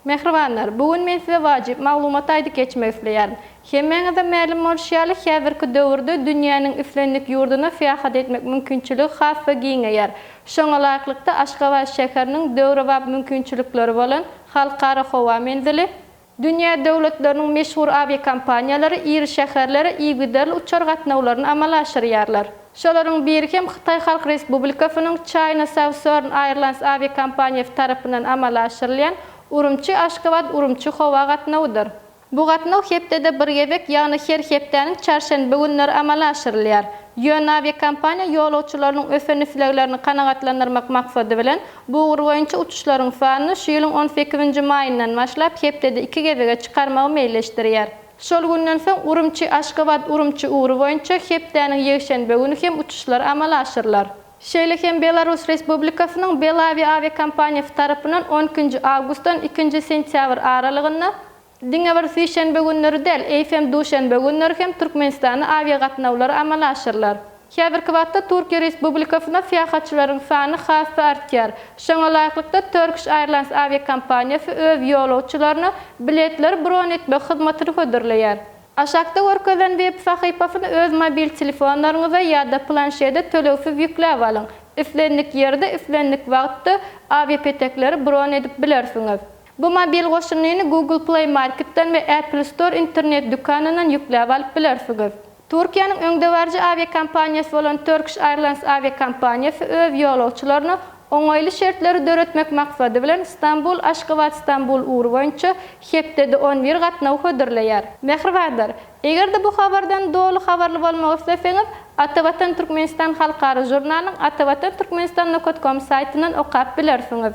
Mähribanlar, bu gün men size wajyp maglumat aýdyp geçmek isleýärin. Hemmäňize mälim bolşy ýaly, häzirki döwürde dünýäniň islendik ýurduna syýahat etmek mümkinçiligi has-da giňeýär. Şoňa laýyklykda, Aşgabat şäheriniň döwrebap mümkinçilikleri bolan Halkara howa menzili, dünýä döwletleriniň meşhur awiakompaniýalary iri şäherlere yzygiderli uçar gatnawlaryny amala aşyrýarlar. Şolaryň biri hem Hytaý Halk Respublikasynyň China Southern Airlines awiakompaniýasy tarapyndan amala aşyrylýan Urumçi-Aşgabat Urumçi howa gatnawydyr. Bu gatnaw hepdede bir gezek, ýagny her hepdäniň çarşenbe günleri amala aşyrylýar. Ýöne awiakompaniýa ýolagçylarynyň ösen isleglerini kanagatlandyrmak maksady bilen, bu ugur boýunça uçuşlaryň sanyny şu ýylyň on sekizinji maýyndan başlap hepdede iki gezege çykarmagy meýilleşdirýär. Şol günden soň Urumçi, Aşgabat, Urumçi ugry boýunça hepdäniň ýekşenbe güni hem uçuşlar amala aşyrylar. Şeýle hem Belarus Respublikasynyň Belavia awiakompaniýasy tarapyndan on ikinji awgustdan ikinji sentýabr aralygynda diňe bir sişenbe günleri däl, eýsem duşenbe günleri hem Türkmenistana awiagatnawlar amala aşyrylar. Häzirki wagtda Türkiýe Respublikasyna syýahatçylaryň sany has-da artýar. Şoňa laýyklykda, Turkish Airlines awiakompaniýasy öz ýolagçylaryna biletleri bron etmek hyzmatyny hödürleýär. Aşakda görkezilen web sahypasyny öz mobil telefonlaryňyza ýa-da planşede tölegsiz ýükläp alyň. Islendik ýerde, islendik wagtda awiapetekleri bron edip bilersiňiz. Bu mobil goşundyny Google Play Marketden we Apple Store internet dükanyndan ýükläp alyp bilersiňiz. Türkiýäniň öňdebaryjy awiakompaniýasy bolan Turkish Airlines awiakompaniýasy öz ýolagçylaryna oňaýly şertleri döretmek maksady bilen Stambul, Aşgabat, Stambul ugry boýunça hepdede on bir gatnawy hödürleýär. Mähribanlar! Eger-de bu habardan doly habarly bolmak isleseňiz, Atavatan Türkmenistan halkara žurnalynyň Atavatan Türkmenistan Nokat Kom saýtyndan okap bilersiňiz.